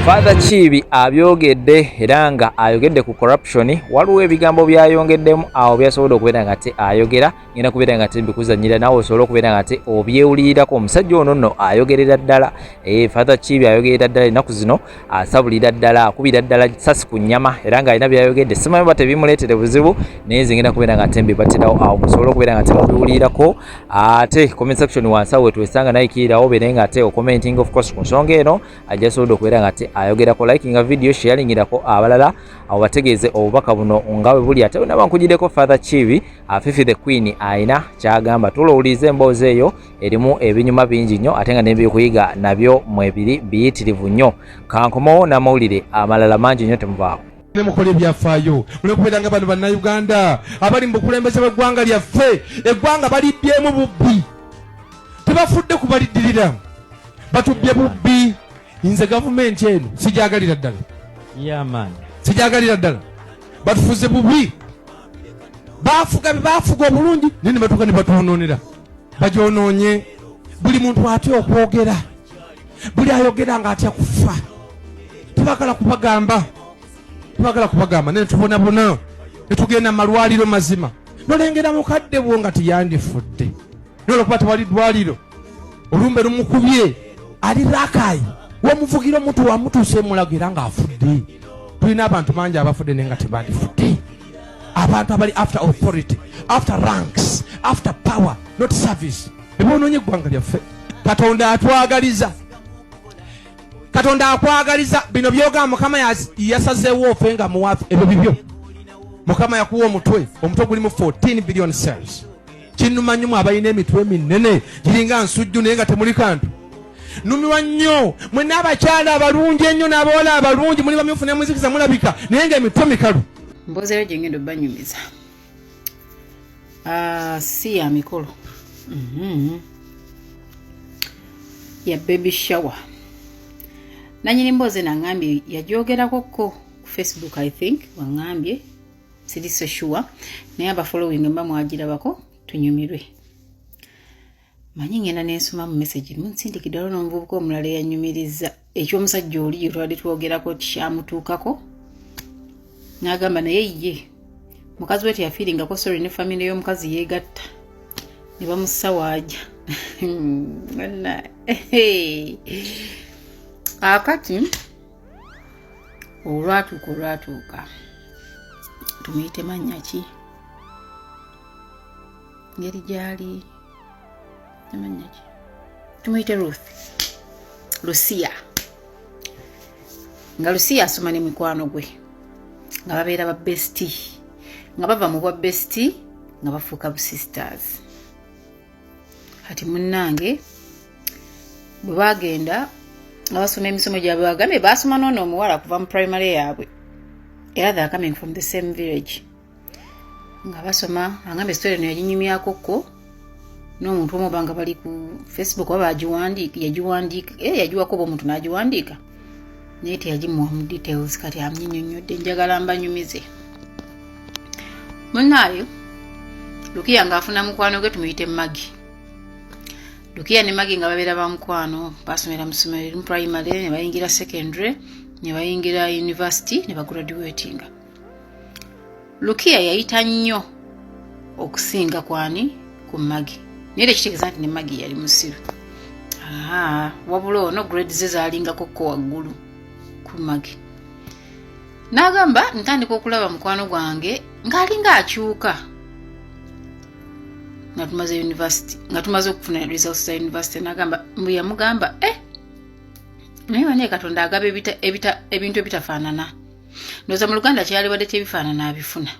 Father Kiibi abyogedde era nga ayogedde ku corruption waliwo ebigambo byayongeddemu awo byasobodde okubeera nga te ayogera ngenda kubeera nga tebikuzanyira nawe osobola okubeera nga te obyewulirirako omusajja ono nno ayogerera ddala eh, father kibi ayogerera ddala ennaku zino asabulira ddala akubira ddala sasi ku nyama era nga alina byayogedde simanyi oba tebimuleetere buzibu naye nze ngenda kubeera nga te mbibatirawo awo musobole okubeera nga temubiwulirirako ate comment section wansi awo wetwesanga naye kiirawo obeere nga te okomenting of course ku nsonga eno ajja asobodde okubeera nga te ayogerako likinga video sheyalingirako abalala awo bategeeze obubaka buno nga bwe buli ate bwenabankugireko father kibi Afifi the Queen aina kyagamba tulo ulize emboozi eyo erimu ebinyuma bingi nnyo ate nga nebyokuyiga nabyo mwebiri biyitirivu nnyo kankomawo n'amawulire amalala mangi nnyo temuvaako ne mukola ebyafaayo mulekubeera nga bano bannayuganda abali mu bukulembeze bw'eggwanga lyaffe eggwanga baliddyemu bubbi tebafudde kubaliddirira batubbye bubbi nze gavumenti eno sijagalira ddala sijagalira ddala batufuze bubi bafuga bebafuga obulungi naye nebatuka nebatwononera bajononye buli muntu atya okwogera buli ayogera nga atya kufa tebagala kubagamba tebagala kubagamba naye tubonabona netugenda malwaliro mazima nolengera mukadde bwo nga tiyandifudde nolwokuba tewali dwaliro olumbe lumukubye ali rakayi wamuvugira omuntu wamutuusa emulago era ngaafudde tulina abantu bangi abafudde naye nga tebandifudde abantu abali after authority after ranks after power not service bebonoonye eggwanga lyaffe katonda atwagaliza katonda akwagaliza bino byoga mukama yasazeewo ofe nga muwafe ebyo bibyo mukama yakuwa omutwe omutwe gulimu 14 billion cells kinnuma nnyo mwe abalina emitwe eminnene giringa nsujju naye nga temuli kantu numirwa nnyo mwe n'abakyala abalungi ennyo n'abawala abalungi muli bamyufu nemuzikiza mulabika naye nga emitwe mikalu mbozeero gye ngenda obanyumiza ah, si ya mikolo mhm. ya baby shower nanyini mboozi nangambye yagyogerako ko ku facebook i think wangambye siri so sure naye aba following mba mwagirabako tunyumirwe manyi ngenda nensoma mu message munsindikidde waliwo n'omuvubuka omulala eyanyumiriza ekyomusajja oli yetwali twogerako kyamutuukako n'agamba naye ye mukazi we teyafiiringako sorry ne famire y'omukazi yeegatta ne bamusawaaja akati olwatuuka olwatuuka tumuyite mannya ki ngeri gyali amannya ki tumuyite ruth lusiya nga lusiya asoma ne mikwano gwe nga babeera ba besti nga bava mu bwa besti nga bafuuka bu sisters kati munnange bwe baagenda nga basoma emisomo gyabwe bagambye baasoma noona omuwala kuva mu primary yaabwe era the coming from the same village nga basoma agambye story eno yaginyumyako ko n'omuntu omu oba nga bali ku facebook oba bagiwandiika yagiwandiika era eh, yagiwako oba omuntu n'agiwandiika naye teyagimuwa mu details kati amnyinyonnyodde njagala mbanyumize munaayo lukiya ng'afuna mukwano gwe tumuyite magi lukiya ne magi nga babeera ba mukwano basomera mu ssomero erimu primary ne bayingira secondary ne bayingira university ne bagraduatinga lukiya yayita nnyo okusinga kwani ku magi naye era ekitegeeza nti ne magi yali musiru wabula ono grade ze zalingako ko waggulu ku magi n'agamba ntandika okulaba mukwano gwange ng'alinga akyuka nga tumaze university nga tumaze okufuna results za university nagamba mbu yamugamba eh naye bane katonda agaba ebintu ebitafaanana ndoza mu luganda kyeyalibadde tebifaanana abifuna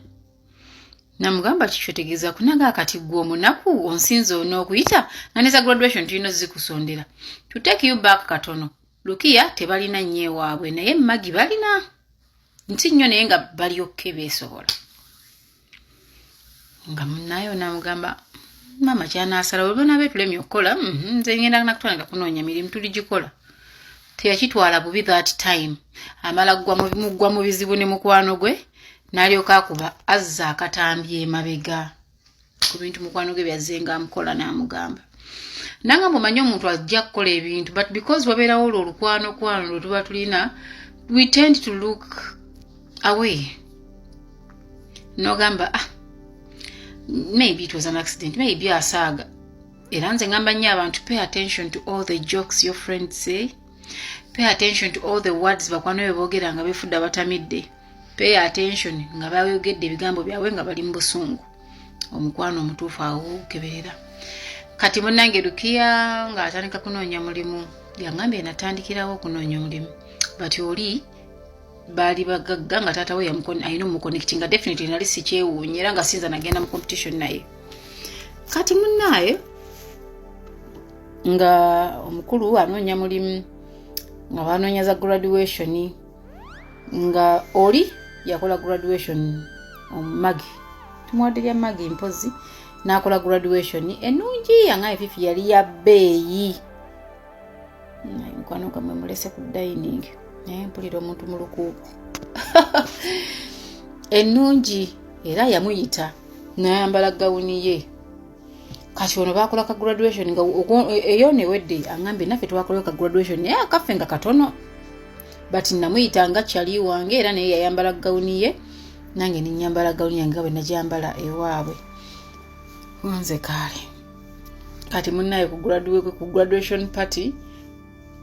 namugamba kikyotegeeza kunaga akati gwe omunaku onsinza on'okuyita nga neza graduation tulina ozikusondera to take you back katono lukiya tebalina nnyo ewaabwe naye magi balina nti nnyo naye nga balyokke beesobola nga munaye onamugamba maama kyanasala webana betulemye okukola mhm, nze ngenda nakutwala nga kunoonya mirimu tuligikola teyakitwala bubi that time amala mugwa mu bizibu ne mukwano gwe nalyoka akuba azza akatambi emabega ku bintu mukwano gwe byazzenga amukola namugamba nanga mumanyi omuntu ajja kukola ebintu but because wabeerawo olwo olukwano kwano lwe tuba tulina we tend to look away nogamba ah maybe it was an accident maybe asaaga era nze ngamba nnyo abantu pay attention to all the jokes your friend say pay attention to all the words bakwano bwe boogera nga befudde abatamidde pay attention nga bayogedde ebigambo byabwe nga bali mu busungu omukwano omutuufu awo keberera kati munange lukiya nga atandika kunoonya mulimu yangambye natandikirawo okunoonya omulimu but oli baali bagagga nga taata we alina omuconnecti nga definitely nali sikyewuunye era nga sinza nagenda mu competition naye kati munaaye nga omukulu anoonya mulimu nga banoonya za graduationi nga oli yakola graduation omumagi um, tumuwadde lya magi mpozi n'akola graduation enungi anga efifi yali ya bbeeyi naye mukwano gamwe mulese ku dining naye mpulira omuntu mu lukuuku ennungi era yamuyita nayambala gawuni ye kati ono bakola ka graduation nga eyo newedde angambye naffe twakolewo ka graduation naye akaffe nga katono but namuyita nga kyali wange era naye yayambala gawuni ye nange nenyambala gawuni yange nga bwe najambala ewaabwe nze kaale kati munaye ku graduation party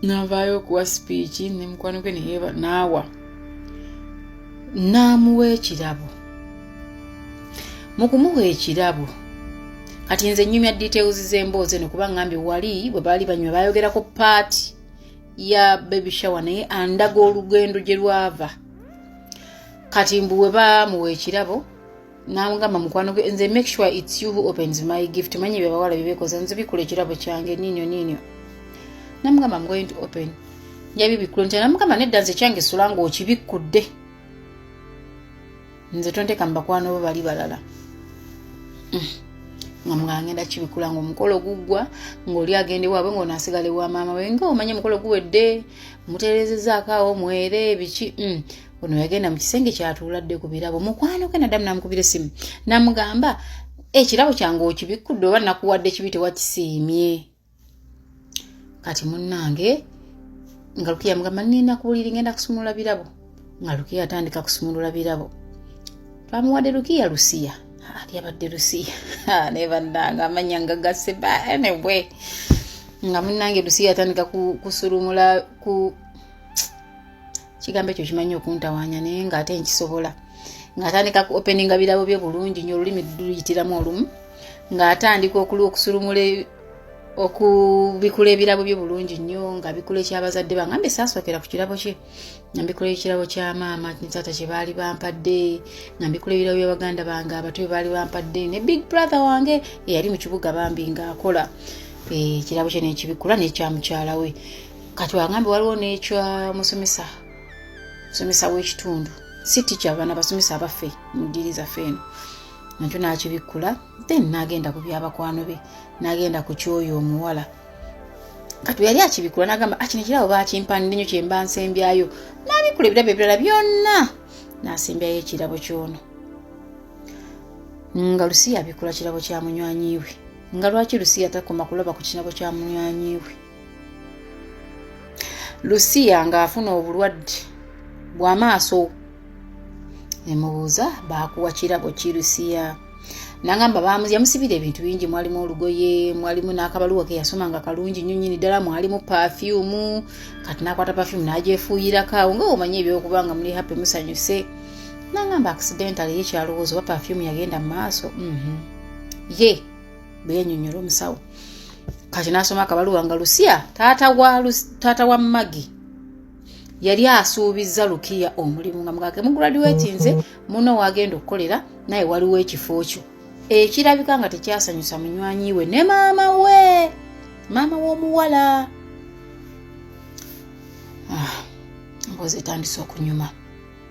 navaayo okuwa sipiiki ne mukwano gwe neyeba naawa n'amuwa ekirabo mu kumuwa ekirabo kati nze nyumya details z'emboozi eno kuba ngambye wali bwe baali banyuma bayogerako paati ya baby shower naye andaga olugendo gye lwava kati mbu we bamuwa ekirabo namugamba mukwano gwe nze make sure its you who opens my gift manye byabawala byebekoza nze bikula ekirabo kyange ninyo ninyo namugamba am going to open njabibikkula nti namugamba nedda nze kyange sula nga okibikkudde nze tonteka mubakwano bo bali balala mm. nga mugangenda kibikula nga omukolo guggwa ngaoli agende waabwe ngaonasigale wa maama we nga omanye omukolo guwedde muterezezaako awo mwere biki mm. ono yagenda mu kisenge kyatuuladde ku birabo mukwano gwe nadamu namukubira essimu namugamba ekirabo kyange okibikkudde oba nakuwadde kibi tewakisiimye kati munnange nga lukiya mugamba nina kubuliri ngenda kusumulula birabo nga lukiya atandika kusumulula birabo twamuwadde lukiya lusiya lyabadde lusiya naye bannanga amanya nga gase banewe nga munnange lusiya atandika kusulumula ku kigambo ekyo kimanyi okuntawaanya naye nga ate nkisobola ng'atandika ku openinga birabo bye bulungi nyo olulimi luyitiramu olumu ng'atandika okuli okusulumula e, okubikula ebirabo bye bulungi nnyo nga bikula ekyabazadde bange ambe saasookera ku kirabo kye nga mbikula ekirabo kya maama taata kye baali bampadde nga mbikula ebirabo bya baganda bange abato bye baali bampadde ne big brother wange eyali mu kibuga bambi ng'akola eh, ekirabo kye nekibikula n'ekya mukyala we kati wagambe waliwo nekya musomesa musomesa w'ekitundu si tikya bana basomesa abaffe mu ddiiri zaffe eno nakyo nakibikkula then nagenda ku byabakwano be nagenda ku kyoyo omuwala kati yali akibikula nagamba akino ah, kirabo bakimpandi nyo kyemba nsembyayo nabikula ebirabo ebirala byonna nasembyayo ekirabo kyono nga lusiya abikula kirabo kya munywanyiwe nga lwaki lusiya takoma kulaba ku kirabo kya munywanyiwe lusiya ng'afuna obulwadde bw'amaaso ne mubuuza baakuwa kirabo ki lusiya nagamba yamusibira ebintu bingi mwalimu olugoye mwalimu n'akabaluwa ke yasoma nga kalungi nnyo nyini ddala mwalimu pafyumu kati nakwata pafyumu n'agyefuuyirako awo nga omanyi ebyokuba nga muli happy musanyuse nagamba accidentale ye kyalowooza oba pafyumu yagenda mu maaso mhm. ye mm -hmm. yeah. bwe yanyonyola omusawo kati nasoma akabaluwa nga lusiya taata wa magi yali asuubizza lukiya omulimu nga mugake muguladiwetinze muno wagenda okukolera naye waliwo ekifo kyo ekirabika nga tekyasanyusa munywanyi we ne maama we maama w'omuwala ah, mbozi etandise okunyuma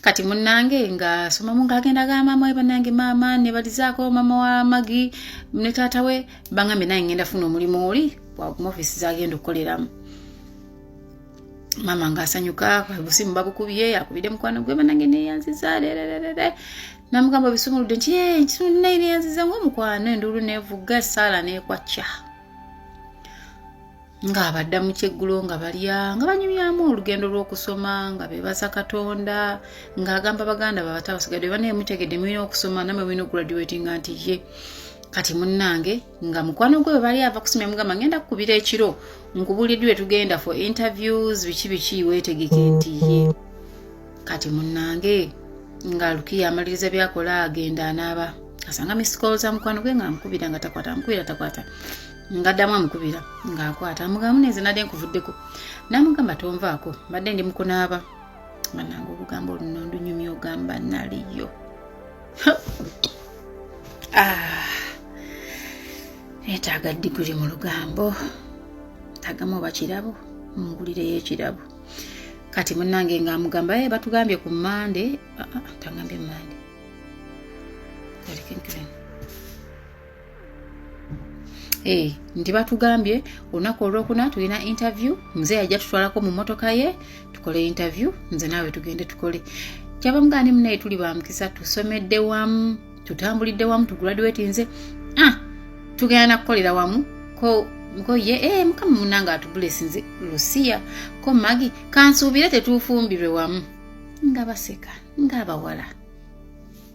kati munange nga somamu ngaagenda ga maama we banange maama nebalizaako maama wa magi ne taata we bangambye naye ngenda funa omulimu oli mu ofisi zagenda okukoleramu maama ngaasanyuka busimu babukubye akubidde mukwano gwe banange neyanziza rererere namugamba bisumuludde nti eh, nkitundu naye neyanziza ngaomukwano enduulu nevuga esaala nekwakya ng'abadda mu kyeggulo nga balya nga banyumyamu olugendo lw'okusoma nga beebaza katonda ng'agamba baganda babata basigadde banaye mutegedde mulina okusoma namwe mulina okugraduatinga nti ye kati munnange nga mukwano gwe webali ava kusomya mugamba ngenda kukubira ekiro nkubuulidde we tugenda for interviews biki biki weetegeke nti ye kati munnange nga lukiya amaliriza byakola agenda anaaba asanga misikoolo za mukwano gwe nga amukubira nga takwata amukubira takwata ngaddamu amukubira ng'akwata amugamu nenze nadde nkuvuddeko namugamba tonvaako mbadde ndi mukunaaba bananga olugambo oluno ndunyumya ogamba naliyo ah, netaaga diguli mu lugambo tagamu oba kirabo mungulireyo ekirabo kati munange ngaamugamba e eh, batugambye ku mande ah, ah, tangambye mande Hey, eh, nti batugambye olunaku olwokuna tulina interview mzee ajja tutwalako mu motoka ye tukole interview nze naawe tugende tukole kyabamugaani munaye tuli bamukisa tusomedde wamu tutambulidde wamu tuguladuweti nze ah, tugenda nakukolera wamu ko ko ye eh, mukama munange atubulesi nze lusiya ko magi kansuubire tetuufumbirwe wamu nga baseka nga abawala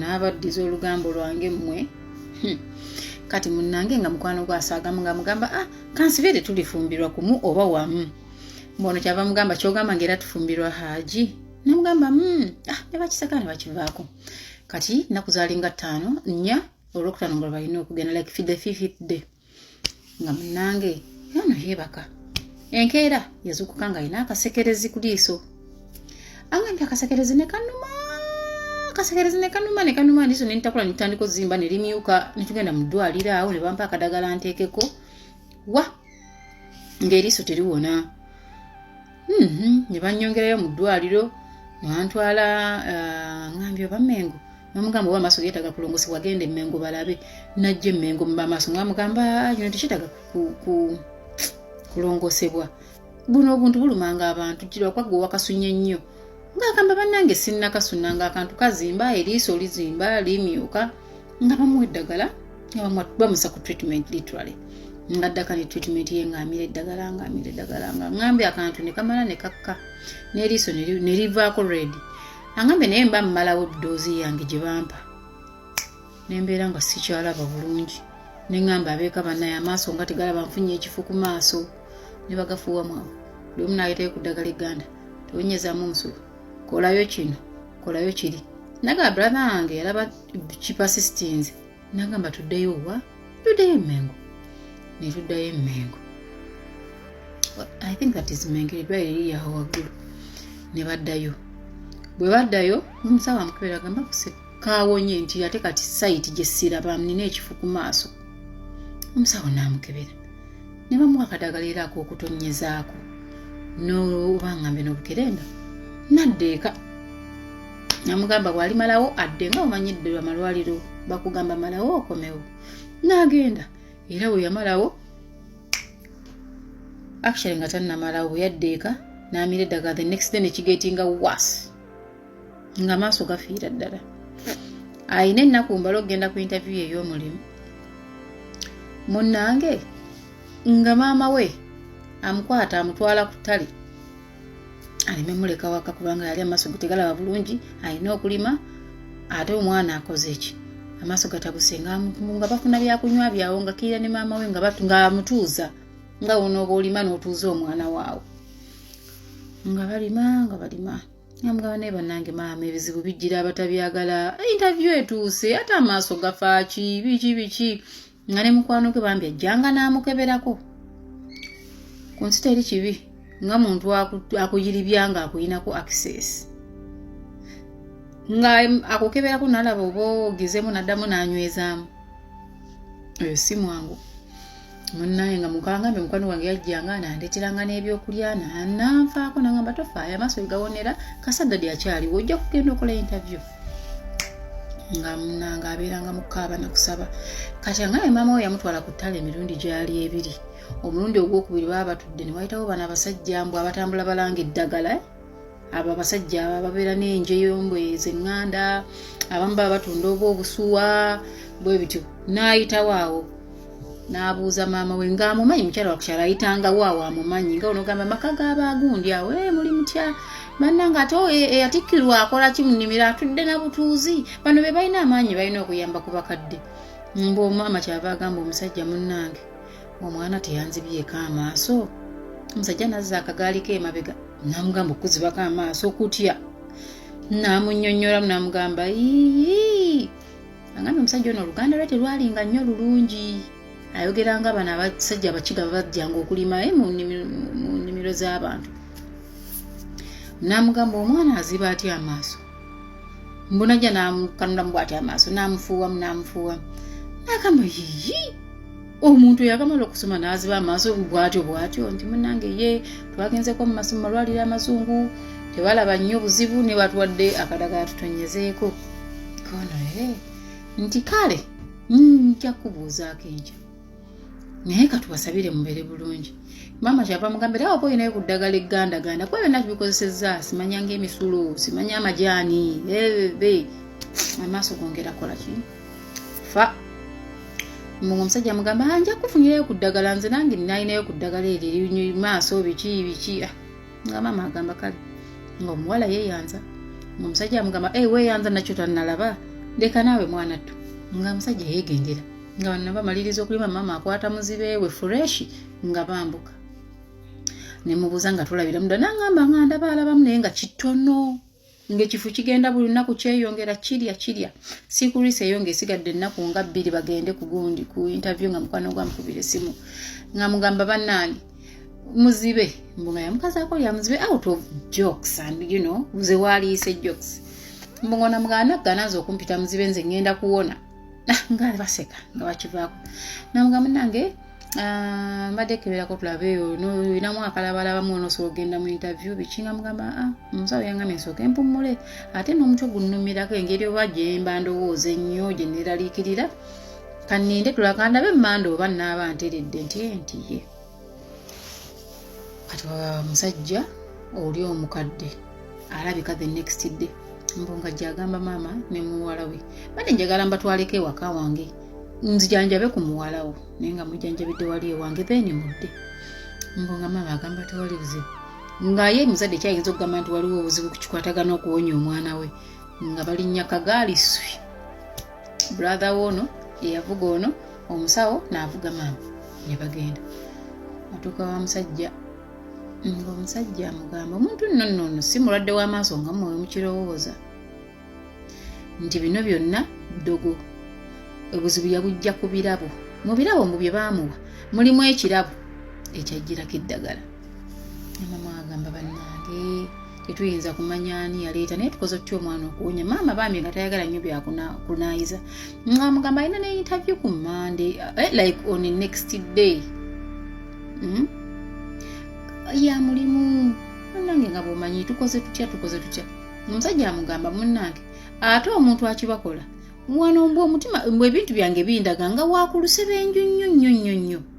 naabaddiza olugambo lwange mmwe hmm. kati munnange nga mukwano gwasaagamu nga mugamba ah kansibeere tulifumbirwa kumu oba wamu mbono kyava mugamba kyogamba nga era tufumbirwa haaji namugamba hmm, ah, ne bakisaka ne bakivaako kati nakuzaali nga ttaano nnya olwokutaano nga lwebalina okugenda like fide fifide nga munange yono yebaka enkeera yazukuka nga alina akasekerezi ku liiso agambye akasekerezi ne kanuma akasekerezi ne kanuma ne kanuma liiso ne nitakula nitandika ozimba ne limyuka ne tugenda mu ddwaliro awo ne bampa akadagala nteekeko wa ng'eriiso teriwona mm-hmm. ne bannyongerayo mu ddwaliro mwantwala uh, ngambye oba mengo namugamba oba amaaso geetaaga kulongosi wagenda emengo balabe najja emengo mubamaaso ngamugamba ah, kino tekyetaaga kulongosebwa buno obuntu bulumanga abantu kirwakwagga owakasunye nnyo ng'agamba bannange sinnakasunna ng'akantu kazimba eriiso lizimba limyuka nga bamuwa eddagala nga bamusa ku treatment literally nga ddaka ne treatment ye ngaamira eddagala ngaamira eddagala nga ngambe akantu ne kamala ne kakka n'eriiso ne livaako red angambe naye mba mmalawo eddoozi yange gye bampa ne mbeera nga sikyalaba bulungi ne ngamba abeeka banaye amaaso nga tegalaba nfunye ekifo ku maaso ne bagafuuwa mwawe buli omu naayitayo ku ddagala egganda tewonyezamu omusolo kolayo kino kolayo kiri naga brother wange yalaba kipasisitinze nagamba tuddeyo wa tuddeyo emengo netuddayo emengo i think that is mengo eddwayo eriyaho waggulu ne baddayo bwe baddayo omusawo amukebera agamba kaawonye nti ate kati sayiti gyessiraba nina ekifu ku maaso omusawo naamukebera ne bamuwa akadagala era ak'okutonyezaako n'obangambye n'obukerenda nadda eka namugamba bwali malawo adde nga omanyidde amalwaliro bakugamba malawo okomewo n'agenda era bwe yamalawo actually nga tannamalawo bwe yadda eka n'amira eddagala the next day nekigetinga was nga maaso gafiira ddala alina ennaku mbala okugenda ku interview ye ey'omulimu munnange nga maama we amukwata amutwala ku ttale aleme muleka waka kubanga yali amaaso gutegalaba bulungi alina okulima ate omwana akoze ki amaaso gatabuse nga bafuna byakunywa byawo nga kiira ne maama we ngaamutuuza nga wonooba olima n'otuuza omwana waawo nga balima nga balima namugamba naye banange maama ebizibu bijjira abatabyagala interview etuuse ate amaaso gafaaki biki biki nga ne mukwano gwe bambi ajjanga n'amukeberako ku nsi teri kibi nga muntu akuyiribya nga akuyinako access nga akukeberako nalaba oba ogezemu naddamu nanywezaamu oyo si mwangu munnaye nga mukangambe mukwano gwange yajjanga nandeteranga n'ebyokulya nananfaako nangamba tofaayo amaaso egawonera kasadadi akyaliwo ojja kugenda okola interview nga munanga abeeranga mukaaba nakusaba kati angaye maama we yamutwala ku ttale emirundi gyali ebiri omulundi ogwokubiri baba batudde ne wayitawo bana abasajja mbu abatambula balanga eddagala abo abasajja abo ababeera n'enjeyo mbwe zenganda abamu baba batunda oba obusuwa bwe bityo n'ayitawo awo n'abuuza maama we ng'amumanyi mukyala wakukyala ayitangawo awo amumanyi nga onogamba amaka g'abaagundi awo e muli mutya banna nga ate oh, eh, eyatikkirwa akola ki mu nnimiro atudde na butuuzi bano be balina amaanyi balina okuyamba ku bakadde mbu omwama kyava agamba omusajja munnange omwana teyanzibyeko amaaso omusajja nazza akagaali ke emabega namugamba okuzibako amaaso okutya namunyonyoramu namugamba ii agambye omusajja ono oluganda lwe terwalinga nnyo lulungi ayogera nga bano abasajja abakiga babajjanga okulima eh, mu nnimiro z'abantu namugamba omwana aziba atya amaaso mbunajja namukanulamu bwati amaaso namufuuwamu namufuuwamu nagamba yiyi omuntu yakamala okusoma n'aziba amaaso bwatyo bwatyo nti munange ye twagenzeeko mu masomo malwaliro amazungu tebalaba nnyo buzibu ne batwadde akadagala tutonyezeeko kono e nti kale nja kubuuzaako enkya naye katubasabire mubeere bulungi maama kyava mugamba era waba olinayo ku ddagala eggandaganda kuba byonna tubikozesezza simanya ngaemisulo simanya amajaani ebe amaaso gongera kola kii fa mbu omusajja mugamba ah, nja kufunirayo ku ddagala nze nange nalinayo ku ddagala eryo erinywa maaso biki biki ah, nga maama agamba kale nga omuwala yeyanza nga omusajja amugamba e weyanza nakyo tanalaba ndeka naawe mwana ttu nga omusajja yegendera nga banna bamaliriza okulima maama akwata muzibe we fureshi nga bambuka nemubuuza nga tulabiramu dda nangamba nga ndaba alabamu naye nga kitono ng'ekifu kigenda buli lunaku kyeyongera kirya kirya sikurisi eyo ng'esigadde ennaku nga bbiri bagende ku gundi ku interview nga mukwano gwa mukubira esimu nga mugamba bannange muzibe mbu nga yamukazaako lya muzibe out of jokes and you know nze waaliise jokes mbu ng'onamugaana ganaanze okumpita muzibe nze ngenda kuwona ah, nga baseka nga bakivaako namuga munange ah, mbadde keberako tulabe eyo noyinamu akalabalabamu onosobola ogenda mu interview biki nga mugamba ah, omusawo yangambe nsooke mpummule ate n'omutwe gunnumirako engeri oba gyemba ndowooza ennyo gye neeraliikirira kaninde tulakandabe manda oba naaba nteredde nti entiye kati musajja oli omukadde alabika the next day mbunga gyagamba maama ne muwala we bade njagala mbatwaleko ewaka wange nzijanjabe ku muwala wo naye nga mujanjabidde wali ewange then mudde mbunga maama agamba tewali buzibu nga ye muzadde kyayinza okugamba nti waliwo obuzibu kukikwatagana okuwonya omwana we nga balinnya kagaali swi brother we ono eyavuga ono omusawo naavuga maama ne bagenda atuuka wa musajja ng'omusajja amugamba omuntu nno nno ono si mulwadde w'amaaso nga mwe mukirowooza nti bino byonna ddogo obuzibu yabujja ku birabo mu birabo mbu bye baamuwa mulimu ekirabo ekyajjirako eddagala mama agamba bannange tetuyinza kumanya ani yaleeta naye tukoze tutya omwana okuwonya maama bambi nga tayagala nnyo byakunaayiza amugamba alina ne interview ku mande eh, like on the next day hmm? ya mulimu munange nga bwomanyi tukoze tutya tukoze tutya omusajja amugamba munange ate omuntu akibakola wano mbw omutima mbw ebintu byange bindaga nga wakulusebenju nnyo nnyo nnyo nnyo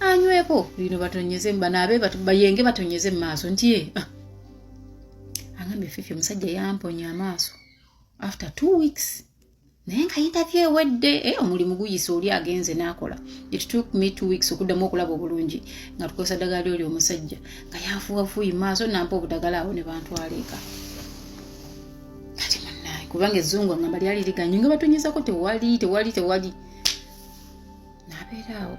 anyweko bino batonyeze banaabe bayenge batonyeze mu maaso nti ye ah. angambye fifi omusajja yamponya amaaso after two weeks naye nga yintavy ewedde eh, omulimu guyisa oli agenze n'akola it took me two weeks okuddamu okulaba obulungi nga tukozesa ddagala lyoli omusajja nga yafuwafuyi maaso nampa obudagala awo ne bantwala eka kubanga ezzungu angamba lyali liganyu nga batonyezako tewali tewali tewali nabeera awo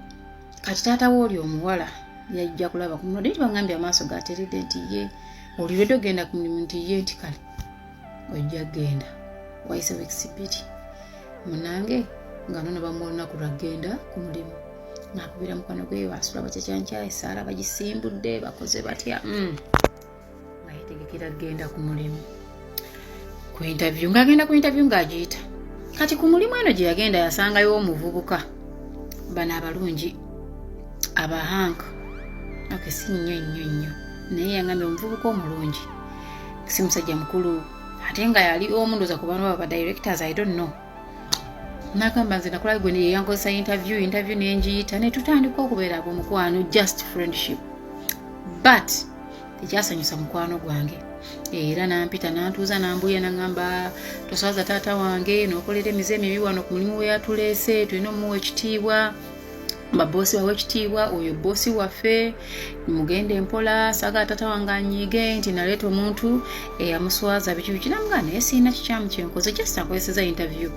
kati taata we oli omuwala yajja kulaba ku mulodo nti bangambye amaaso gateredde nti ye olirede ogenda ku mulimu nti ye nti kale ojja genda wayise wekisi bbiri munange nga nono bamuwa olunaku lwagenda ku mulimu nakubira mukwano gwe basula bakyakyankya esaala bagisimbudde bakoze batya mm. nga yetegekera kugenda ku mulimu ku intavyu ng'agenda ku intavyu ng'agiyita kati ku mulimu eno gye yagenda yasangayo omuvubuka bano abalungi abahank ok si nnyo nnyo nnyo naye yangambye omuvubuka omulungi si musajja mukulu ate nga yali omu ndoza ku bantu abo ba directors i don't know nagamba nze nakola gwe neyeyankozesa interview interview nenjiyita netutandika okubeera abo mukwano just friendship but tekyasanyusa mukwano gwange era nampita nantuuza nambuya nagamba toswaza taata wange nokolera emize emibi wano ku mulimu weyatuleese tulina omuwa ekitiibwa baboosi bawe ekitiibwa oyo boosi waffe mugende mpola sagala tata wange anyiige nti naleeta omuntu eyamuswaza biki biki namugaa naye sirina kikyamu kyenkoze just akozeseza interview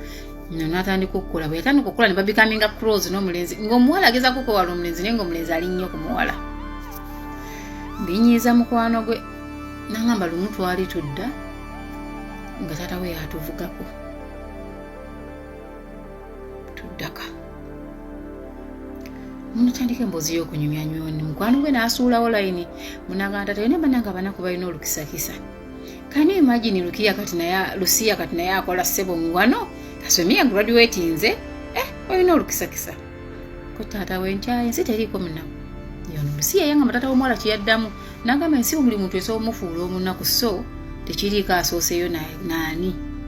natandika okukola bwe yatandika okukola ne babikaminga cross n'omulenzi ng'omuwala ageza kukwewala omulenzi naye ng'omulenzi ali nnyo ku muwala binyiiza mukwano gwe nangamba lumu twali tudda nga taata we yatuvugako tuddaka munatandika emboozi y'okunyumya nyoni mukwano gwe n'asuulawo layini munagamba tata yona bananga abanaku balina olukisakisa kani imagini lukiya kati naye lusiya kati naye akola ssebo muwano asomye graduate nze eh olina olukisakisa ko taata wenkyaye ensi teriiko munaku yono lusiya yanga matata w'omuwala kyeyaddamu nagamba ensi omuli muntu esobola omufuula omunaku so tekiriiko asooseyo nani na